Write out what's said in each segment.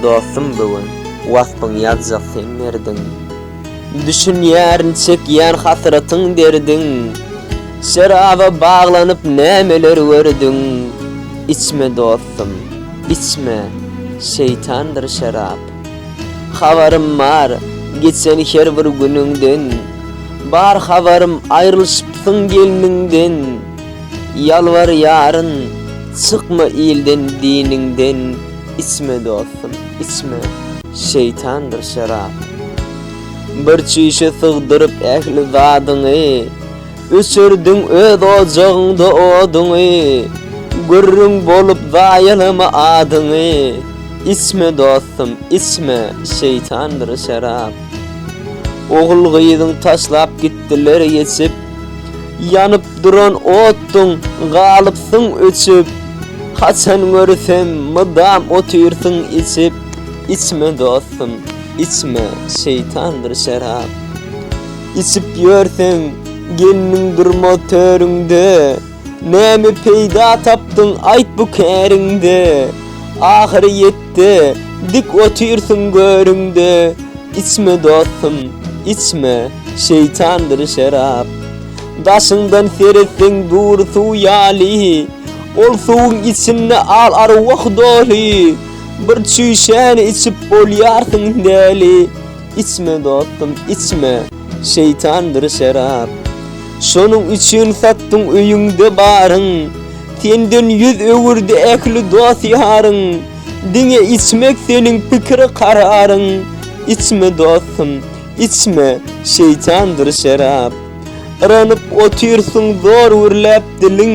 Dostum bu gün waspyň ýazjak seň merdiň Düşünýärin çekýän hasratyň derdiň Şeraba baglanyp nämeler gördüň Içme dostum içme şeýtandyr şerap Habarym bar geçen her bir günüňden Bar habarym aýrylyşypsyň gelniňden Ýalbarýaryn, çykma ilden diniňden içme dostum, içme, şeýtandyr şerap. Bir çüýşe sygdyryp ähli zadyňy, öçürdiň öz ojagyňda oduňy, gürrüň bolup zaýalama adyňy, içme dostum, içme, şeýtandyr şerap. Ogul-gyzyň taşlap gitdiler geçip, Ýanyp duran otdyň, galypsyň öçüp, Haçan görsem, mydam otyrsyň içip. Içme, dostum, içme, şeýtandyr şerap. Içip ýörseň, gelniň durmaz törüňde. Näme peýda tapdyň aýt bu käriňde, Ahyry ýetdi, dik otyrsyň görüňde. Içme dostum, içme, şeýtandyr şerap. Daşyňdan seretseň dury suw ýaly, Ol suwuň içinde al arwah doly. Bir çüýşäni içip bolýarsyň däli, Içme dostum, içme. Şeýtandyr şerap. Şonuň üçin satdyň öýüňde baryň, Senden ýüz öwürdi ähli dost-ýaryň, Diňe içmek seniň pikir-kararyň, Içme dostum, içme, şeýtandyr şerap. Yranyp otyrsyň zor gürläp diliň,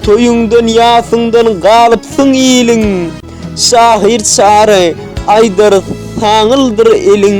Toýuňdan ýasyňdan galypsyň iliň, Şahyr çary aýdar saňyldyr eliň.